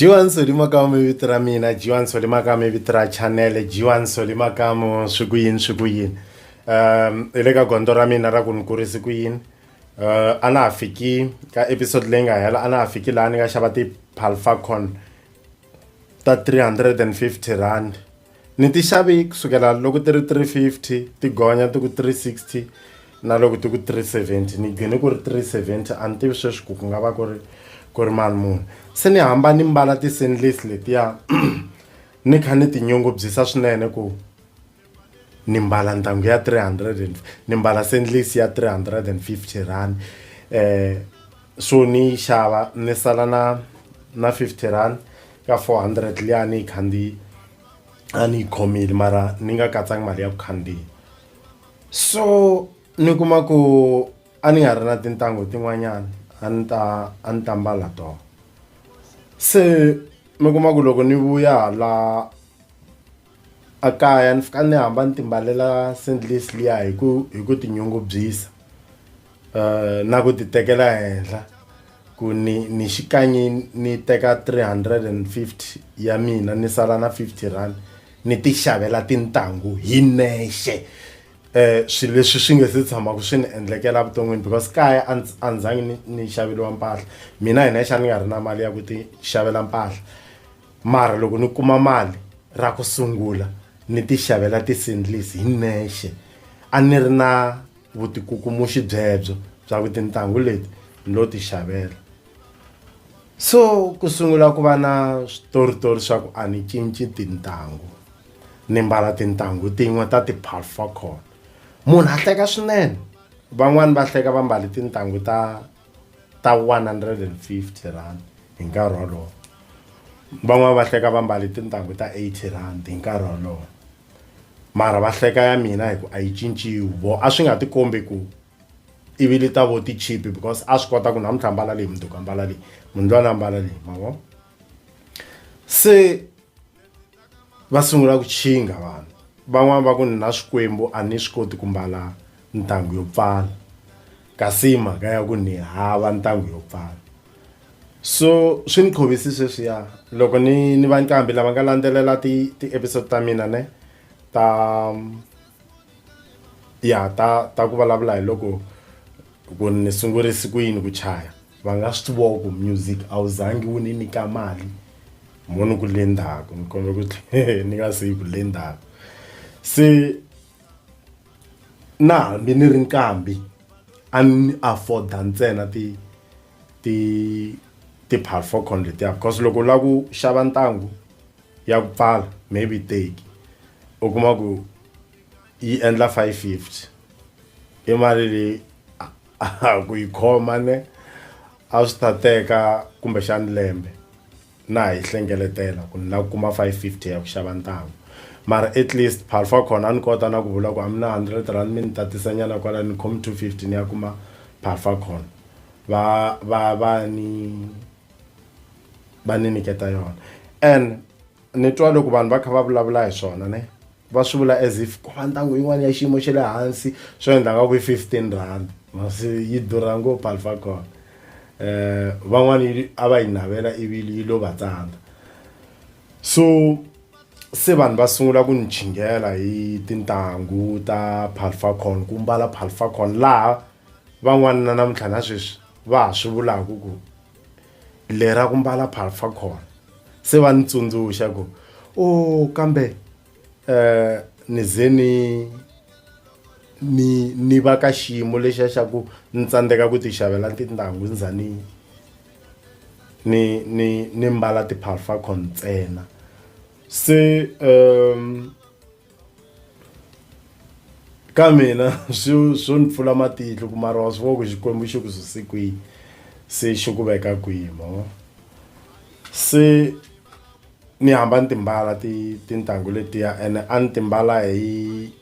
Jiwa Nsoli Makamu i vito ra mina Jiwa Nsoli Makamu i vito ra channel Jiwa Nsoli Makamu swi ku yini swi ku yini um hi le ka gondzo ra mina ra ku ni kurisi ku yini uh, a na ha fiki ka episode leyi nga hela a na ha fiki laha ni nga xava ti-palfacon ta 350 rand ni ti xavi ku sukela loko ti ri 350 ti gonya ti ku 360 na loko ti ku 370 ni gcine ku ri 370 a ni tivi sweswi ku ku nga va ku ri ku ri mali muni se ni hamba ni mbala ti-sandless letiya ni kha ni tinyungubyisa swinene ku ni mbala ntangu ya 300 ni mbala sandless ya 350 rand eh so ni yi xava ni sala na na 50 rand ka 400 leyi a ni yi khandziyi a ni yi khomile mara ni nga katsanga mali ya ku khandziya so ni kuma ku a ni nga ri na tintangu tin'wanyana a ni ta a ni ta mbala tona se mi kuma ku loko ni vuya la A kaya ni fika ni hamba ni ti mbalela sandals liya hi ku hi ku tinyungubyisa na ku ti tekela henhla ku ni ni xi kanye ni teka three hundred and fifty ya mina ni sala na fifty rand ni ti xavela tintangu hi nexe swilo leswi swi nga se tshamaka swi ni endlekela evuton'wini because kaya a ndzi a ni za ngi ni ni xaveriwa mpahla mina hi nexe a ni nga ri na mali ya ku ti xavela mpahla. Mara loko ni kuma mali ra ku sungula ni ti xavela ti-sandals hi nexe a ni ri na vutikukumuxi byebyo bya ku tintangu leti ni lo ti xavela so ku sungula ku va na switoritori swa ku a ni cinci tintangu ni mbala tintangu tin'we ta ti-puffer corn munhu a hleka swinene van'wani va hleka va mbale tintangu ta. ta 150 rand hi nkarhi wolowo van'wana va hleka va mbale tintangu ta 80 rand hi nkarhi wolowo mara va hleka ya mina hi ku a yi cinciwi vo a swi nga tikombi ku ivile ta vo ti cheap because a swi kota ku namuntlha mbala leyi mundzuku ambala leyi mundlwana ambala leyi mavona se va sungula ku chinga vanhu van'wana va ku ni na swikwembu a ni swi koti ku mbala ntangu yo pfala kasi mhaka ya ku ni hava ntangu yo pfala so swi ni khovisi sweswiya loko ni ni vanqambi lava nga landzelela ti ti episode ta mina ne ta ya ta ta ku vulavula hi loko Ku ni sungurise ku yini ku chaya? Va nga swi tivaku ku music a wu zangi wu ni nyika mali. Mo ni ku le ndzhaku ni kombela ku ni nga se yi ku le ndzhaku. Se na hambi ni ri nqambi a ni afford-a ntsena ti ti ti-pulfochon letiya because loko u lava ku xava ntangu ya ku pfala maybe teki u kuma ku. yi endla five fifty i mali leyi a ku yi khoma ne a swi ta teka kumbexani lembe na ha yi hlengeletela ku ni la kuma five fifty ya ku xava ntambu mara at least phalfa khona a ni kota na ku vula ku a mi na hundred rand mi ni tatisa nyana kwala ni khome two fifty ni ya kuma phalfa khona va va va ni va ni nyiketa yona and ni twa loko vanhu va kha va vulavula hi swona ne. va swi vula as if ku va ntangu yin'wana ya xiyimo xa le hansi swo endla nga ku i fifteen rand masi yi durha ngopfu alfa kona um van'wana a va yi navela ivili yi lo va tsandza so se vanhu va sungula ku ni chinghela hi tintangu ta palfacon ku mbala palfacon laha van'wana na namuntlha na sweswi va ha swi vulaka ku lera ku mbala phalfa khona se va ni tsundzuxa ku o oh, kambe um ni ze ni ni ni va ka xiyimo lexiya xa ku ni tsandzeka ku ti xavela tintangu ni za ni ni ni ni mbala tiphalfa khona ntsena se um ka mina swi swo ni pfula matihlo ku mara wa swi vona ku xikwembu xi ku suse kwihi se xi ku veka kwihi ma vo se ni hamba ni timbala ti tintangu letiya ene a ni timbala hi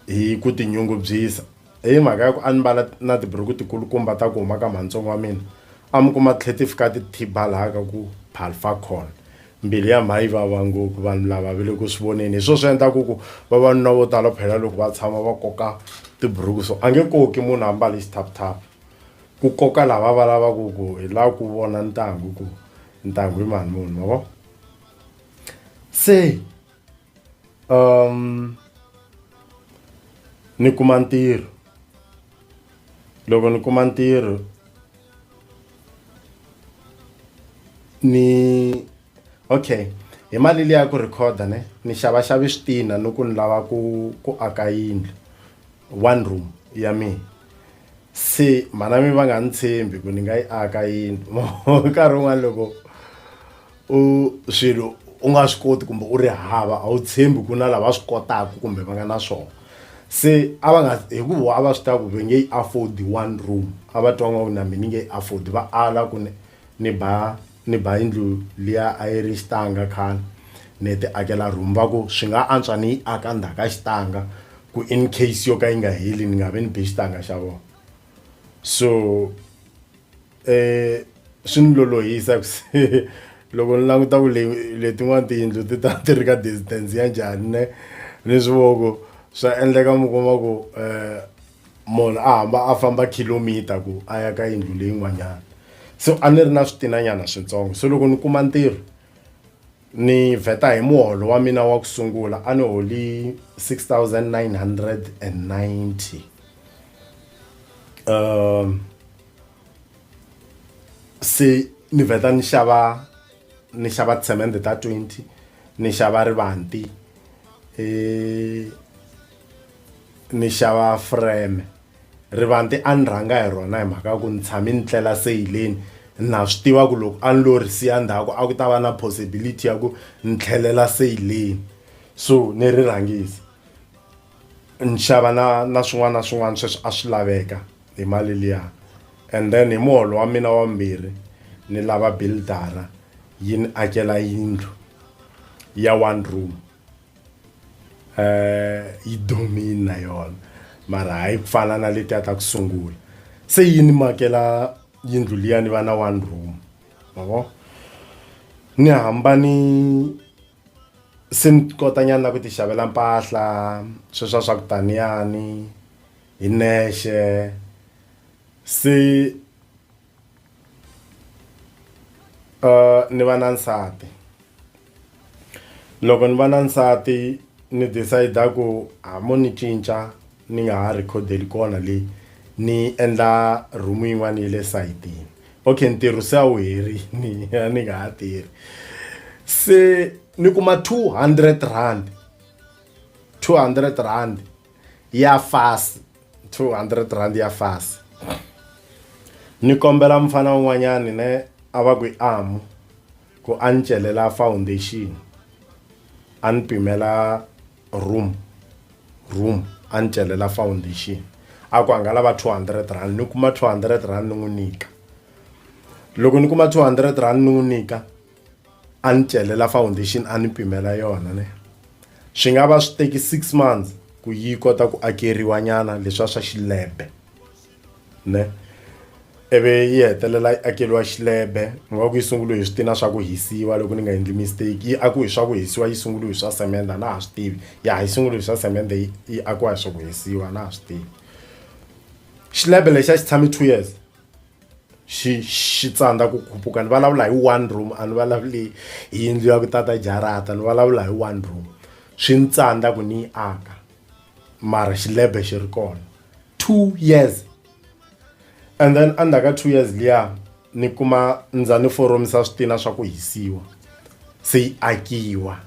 hi ku tinyungubyisa hi mhaka ya ku a ni mbala na tiburuku tikulukumba ta ku huma ka mhantsongo wa mina a mi kuma tlhe ti fika ti thiba laha ka ku phalfa kona mbilu ya mhani yi vava ngopfu vanhu lava va le ku swi voneni hi swona swi endlaka ku vavanuna vo tala phela loko va tshama va koka tiburuku so a nge koki munhu a mbale xithaphuthapu ku koka lava va lavaka ku hi lava ku vona ntangu ku ntangu hi mani munhu ma vo se um ni kuma ntirho loko ni kuma ntirho ni okay hi mali liya ku recorder ne ni xava xavi switina ni ku ni lava ku ku aka yindlu one room ya mina se mhana mi va nga ni tshembi ku ni nga yi aka yindlu nkarhi wun'wani loko. u swilo u nga swi koti kumbe u ri hava a wu tshembi ku na lava swi kotaka kumbe va nga na swona se a va nga hikuva a va swi tiva ku ve nge yi afford one room a va twa nga ku na mina ni nge yi afford va ala ku ni ni ba ni ba yindlu liya a yi ri xitanga khale ni ti akela room va ku swi nga antswa ni yi aka ndzhaku ka xitanga ku in case yo ka yi nga heli ni nga vi ni be xitanga xa vona so um swi ni lolohisa ku se loko ni languta ku letin'wana tiyindlu ti ta ti ri ka distance ya njhani ne ni swivoko swa endleka mi kuma ku um munhu a hamba a famba khilomitha ku a ya ka yindlu leyin'wanyana so a ni ri na switinanyana swintsongo se loko ni kuma ntirho. Ni vheta hi muholo wa mina wa ku sungula a ni holi 6990 um se ni vheta ni xava ni xava tisemende ta 20 ni xava rivanti um ni xava frame rivanti a ni rhanga hi rona hi mhaka ya ku ni tshame ni tlela seyileni na swi tiva ku loko a ni lo ri siya ndzhaku a ku ta va na possibility ya ku ni tlhelela seyileni so ni ri rhangisa ni xava na na swin'wana na swin'wana sweswi a swi laveka hi mali liya and then hi muholo wa mina wa mbirhi ni lava builder-a yi ni akela yindlu ya one room. eh yi domini na yona mara hayi ku fana na letiya ta ku sungula se yi ni makela yindlu liya ni va na one room ma vo ni hamba ni se ni kotanyana na ku ti xavela mpahla sweswiya swa ku taniyani hi nexe se ni va na nsati loko ni va na nsati ni decide ku ha mo ni cinca ni nga ha rhikhodeli kona le ni endla room yin'wana ya le sayitini okay ntirho se a wu herini a ni nga ha tirhi se ni kuma two hundred rand two hundred rand ya fasi. 200 rand ya fasi ni kombela mfana wun'wanyani ne a va ku i amu ku a ni celela foundation a ni pimela room room a ni celela foundation a ku a nga lava 200 rand ni kuma 200 rand ni n'wi nyika loko ni kuma 200 rand ni n'wi nyika a ni celela foundation a ni pimela yona ne swi nga va swi teki six months ku yi kota ku akeriwa nyana leswa swa xilebe ne ivi yi hetelela yi akeriwa xilebe ni nga ku yi sunguliwe hi switina swa ku hisiwa loko ni nga endli mistake yi akiwe hi swa ku hisiwa yi sunguliwe hi swa semende a na ha swi tivi ya ha yi sunguliwe hi swa semende yi yi akiwa hi swa ku hisiwa a na ha swi tivi xilebe lexi a xi tshame two years. xi xi tsandza ku khuphuka ni vulavula hi one room a ni vulavuli hi yindlu ya ku tata jarata ni vulavula hi one room swi ni tsandza ku ni yi aka mara xilebe xi ri kona two years and then under ka two years liya ni kuma ndza ni foromisa switina swa ku hisiwa se yi akiwa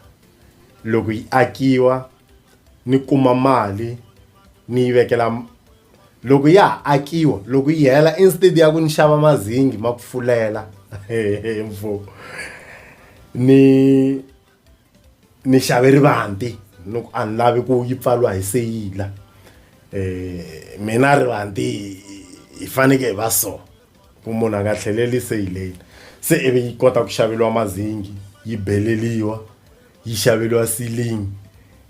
loko yi akiwa ni kuma mali ni yi vekela loko ya ha akiwa loko yi hela instead ya ku ni xava mazingi ma ku fulela mfo ni ni xave rivanti loko a ni lavi ku yi pfaliwa hi seyila eh mina rivanti hi faneke hi va so ku munhu a nga tlheleli seyileni se ivi yi kota ku xaveriwa mazingi yi beleliwa yi xaveriwa ceiling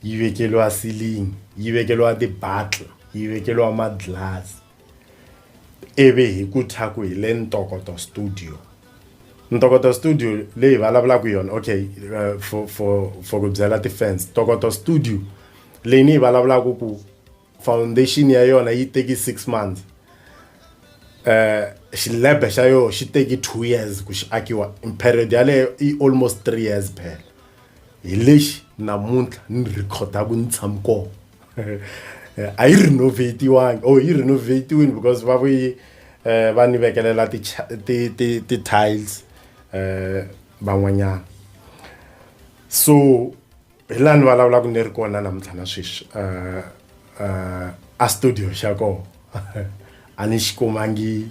yi vekeriwa ceiling yi vekeriwa ti-battle yi vekeriwa ma-glass ivi hi ku thya ku hi le ntokoto studio ntokoto studio leyi vulavulaka yona okay eh, for for for ku byela ti-fans ntokoto studio leyi ni yi vulavulaka ku foundation ya yona yi teki six months eh xilebe xa yona xi teki two years ku xi akiwa period yaleyo i almost three years phela hi lexi namuntlha ni rhikhodaku ni tshami kona a yi renovatiwangi or oh, yi renovatiwini because va vuyi um va ni vekelela ti-tiles um eh, van'wanyana so hi laha ni vulavulaka ni ri kona namuntlha na sweswi uh, uh, a studio xa kona a ni xi kumangi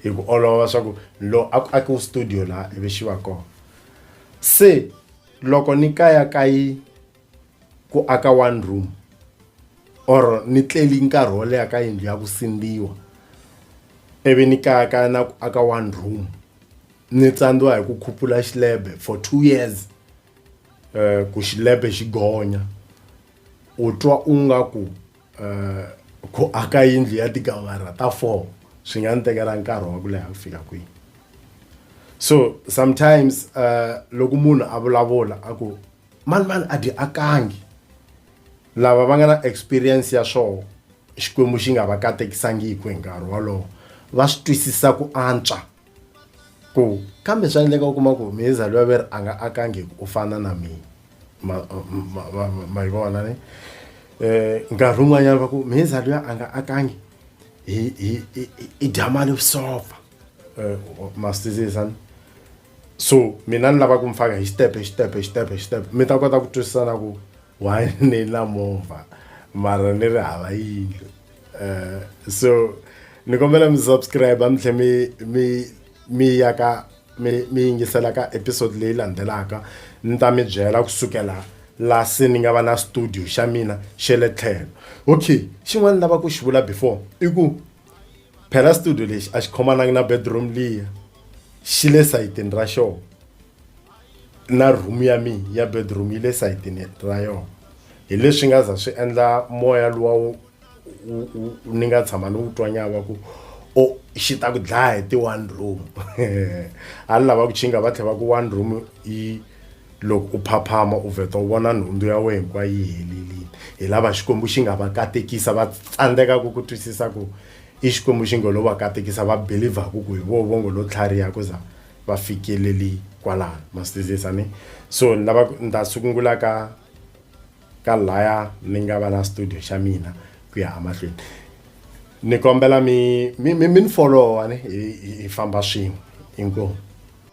hi ku olova swa ku lo a ku akiwu studio laha ivi xi va kona se loko ni kaya ka yi ku aka one room or ni tleli nkarhi wo leha ka yindlu ya ku sindziwa ivi ni kaya kaya na ku aka one room ni tsandziwa hi ku khupula xilebe for two years eh ku xilepe xi gonya u twa u nga ku eh ku aka yindlu ya tigawara ta four swi nga ni tekela nkarhi wa ku leha ku fika kwihi so sometimes uh loko munhu a vulavula a ku mani mani a dyi akangi lava va nga na experience ya swona xikwembu xi nga va katekisangiki hi nkarhi wolowo va swi twisisa ku antswa Ku, Kambe swa endleka u kuma ku Mhizha loyi a ve ri a nga akangi hi ku u fana na mina. Ma, ma, ma, ma, ma yi vona ne? Eh, nkarhi wun'wanyana va ku Mhizha loyi a nga akangi hi, hi, hi, hi, hi dya mali vusopfa. Eh, ma swi twisisa ne? So mina ni lava ku mi faka hi xitepe, hi xitepe, hi xitepe, hi xitepe mi ta kota ku twisisa na ku. why ni na movha mara ni ri hava yindlu uh, so ni kombela mi subscribe mi tlhe mi mi mi ya ka mi mi yingisela ka episode leyi landzelaka ni ta mi byela kusukela la se ni nga va na studio xa mina xe le tlhelo okay xin'wana ni lava ku xi vula before i ku phela studio lexi a xi khomanangi na bedroom liya xi le sayitini ra xona na room ya mina ya bedroom yi le sayitini ra yona hi leswi nga za swi endla moya luwa wu ni nga tshama ni wu twa nyava ku o oh, xi ta ku dlaya hi ti-one room a ni lava ku chinga va tlhela va ku one room yi loko u phaphama u vheta u vona nhundzu ya wena hinkwayo yi helelile hi lava xikwembu xi nga va katekisa va tsandzeka ku ku twisisa ku i xikwembu xi ngo lo va katekisa va belivhaku ku hi vo vongo lo tlhariha ku za va fikeleli kwalano ma swi twisisa ni so ni lava ni ta sungula ka ka laya ni nga va na studio xa mina ku ya emahlweni ni kombela mi mi mi ni followa ni hi famba swin'we inkomu